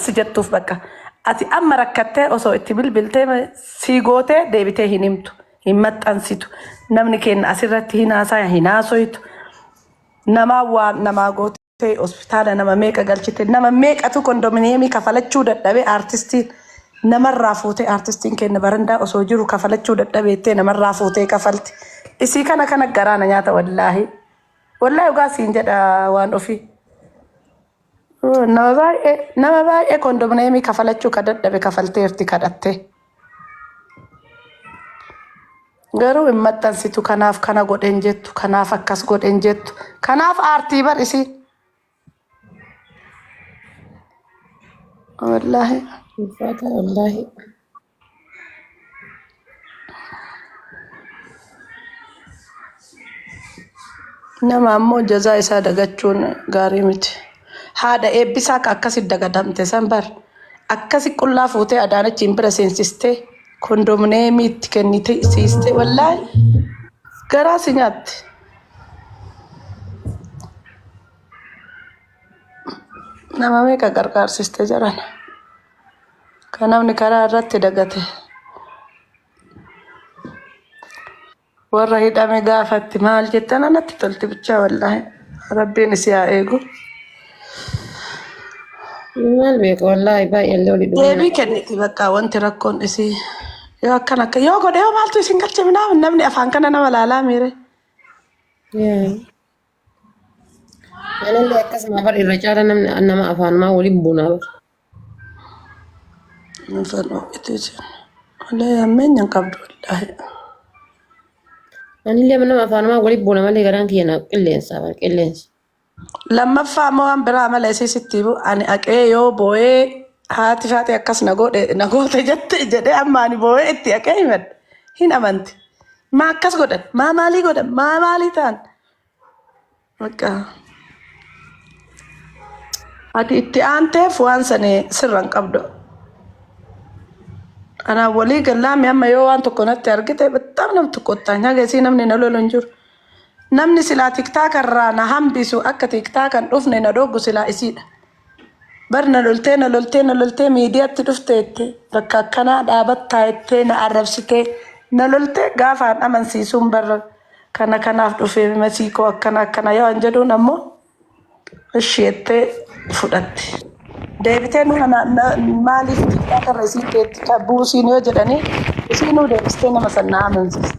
si jettuuf bakka ati amma rakkattee osoo itti bilbiltee ma- sii gootee deebitee hin himtu hin maxxansitu namni keenya asirratti hin haasaya hin haasoytu namaa waan namaa gootee hospitaala nama meeqa galchite nama meeqatu kondominiyeemii kafalachuu dadhabee aartistiin namarraa fuutee aartistiin keenya barandaa osoo jiru kafalachuu dadhabeettee namarraa fuutee kafalti isii kana kana garaana nyaata wallaahi wallaahi dhugaa siin jedha waan ofii. Nama baay'ee nama baay'ee kondomneemii kafalachuu ka dadhabe kafalteerti kadhattee. Garuu hin maxxansitu kanaaf kana godhen jettu kanaaf akkas godhen jettu kanaaf aartii bar isiin. Wallaahi. Ulfaata wallaahi. Nama ammoo jazaa isaa dagachuun gaarii miti. Haadha eebbisaa ka akkasi dagadamte san bar akkasi qullaa fuutee adaanachiin bira seensistee kondomineemii itti kennite siistee wallaahi garaa si nyaatti. Nama meeqa gargaarsiste jarana. Kan namni karaa irratti dagate warra hidhame gaafatti maal jettan anatti tolti bichaa wallaahi rabbiin isii haa eegu. Maal beeku wallaahi baay'ee illee olii dhumaa. Deebii kenniti bakka wanti rakkoon isii yoo akkan akka yoo godhe yoo maaltu isin galche minaa namni afaan kana nama laalaa miire. Anillee akkasuma bar irra caala namni nama afaanumaa waliin bunaa bar. Nufan ho'itu isin. Wallahi hammeenya hin qabdu wallahi. Anillee nama afaanumaa waliin buuna malee garaan kiyya na qilleensa bar qilleensa. Lammaffaa immoo waan biraa mala isii sitti himu ani aqee yoo boo'ee haati faati akkas na godhe na goote jette jedhee amma ani boo'ee itti aqee himadhe hin amanti. Maa akkas godhan maa maalii godhan maa maalii ta'an Bakka. Ati itti aanteef waan sani sirra hin qabdu. Anaan walii gallaame amma yoo waan tokko natti argite battaan nam tokkottaa nyaga isii namni na lolu hin jiru. Namni silaa tiktaaka irraa na hambisu akka tiktaakan dhufne na dhoogu silaa isiidha. Bar na loltee na loltee na loltee miidiyaatti dhufteette bakka akkanaa dhaabattaa jettee na arrabsitee na loltee gaafaan amansiisuun bar kana kanaaf dhufee masii koo akkana akkana yoo an jedhuun ammoo ishi jettee fudhatte. Deebitee nu ana na- maaliif xiqqaa karra isiin keetti qabbuu isiin yoo jedhanii isiinuu deebistee nama san na amansiiste.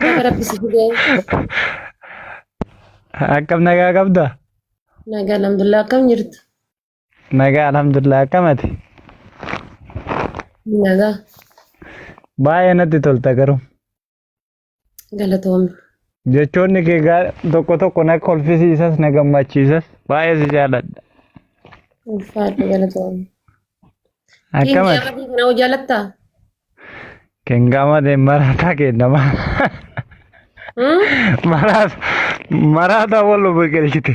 Baga rabbi si fidee. Akkam nagaa qabda? Nagaa alhamdulillah akkam jirtu? Nagaa alhamdulillah akkamati. Nagaa. Baay'ee natti tolta garuu. Galatoomi. Jechoonni kee gaa- tokko tokko na kolfisiisas na gammachiisas baay'ee si jaalladha. Ulfaadhu galatoomi. Kiingi Akkamati Amadii kana hoo jaalattaa? kengaamate maraataa kennama. Hmm? Maraata maraata wal biqilchite.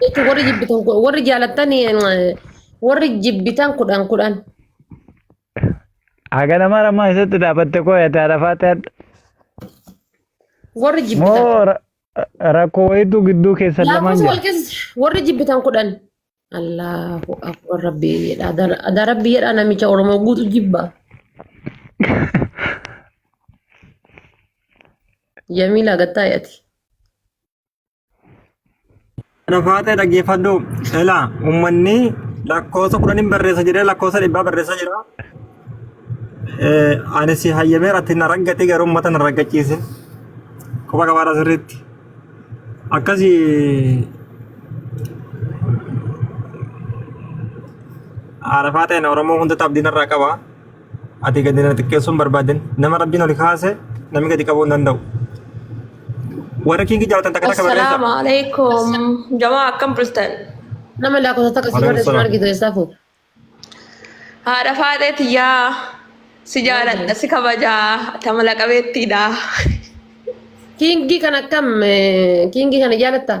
Jechuun warri jibbitan kun- warri jaalattan eh, warri jibbitan kudhan kudhan. Haga nama rammaa keessatti dhaabatte koo yaada arafaatti hadha. Warri jibbitan. Moo ra- rakkoo wayiitu gidduu keessan lamaan Laakkofsa jira. wal keessa warri jibbitan kudhan. Allahu akbar rabbii jedha. Adara- Adaa rabbii jedha namicha Oromoo guutu jibba. Jamiila gattaa yaati. Dhafaatee dhaggeeffadhu sela uummanni lakkoofsa kudhaniin barreessa jedhee lakkoofsa dhibbaa barreessaa jira. Eh, Ani si hayyamee irratti na raggate garuu uummata na raggachiise. Quba qabaadha sirriitti. Akkasi arafaa ta'een Oromoo hundatti abdiin irraa qaba. Ati gadi na xiqqeessuun barbaadin. Nama rabbiin oli kaase namni gadi qabuu hin danda'u. Warra kiingi jaalatan takka takka barreessa. Assalaamu alaikum. Jamaa akkam bultan? Nama lakkoofsa takka si Waalaikum barreessu salaam. argitu eessaa fuute? Haadha faadhee tiyyaa si jaaladha si kabajaa tamala qabeettiidha. Kiingii kan akkam eh, kiingii kana jaalattaa?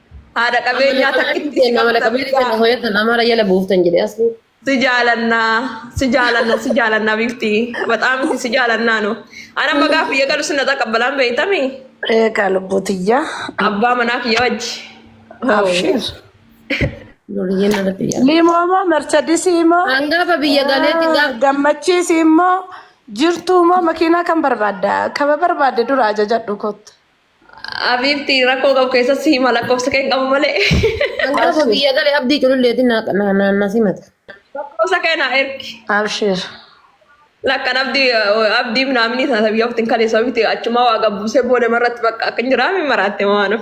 Haadha qabeenyaa takkitti si Nama qabda qabeenyaa beekaa. hoyatan amara jala buuftan jedhe asli. Si jaalannaa, si jaalannaa, si jaalannaa bifti. Baxaa miti si jaalannaa nu. Ana amma gaafa biyya galu sinna taqabbalaan beektami. Eegaa lubbuu tiyyaa. Abbaa manaa kiyya wajji. Abshiir. Duriyyeen irratti yaala. Liimoo moo marchadisii immoo Hangafa biyya galeetti gaaf gammachiisi immoo jirtuu immoo makiinaa kan barbaadda kaba barbaadde dura ajajadhu kottu. Abiibti rakkoo qabu keessatti si hima lakkoofsa kee hin qabu malee. Gaafa biyya gale abdii cululleetiin na- na- na- na simata. Lakkoofsa kee naa ergi. Abshir. Lakkan abdii abdii minaaminii sana biyya oftiin kalee sababiitti achumaa waa gabbuusee booda marratti bakka akka hin jiraame maraatte waan of.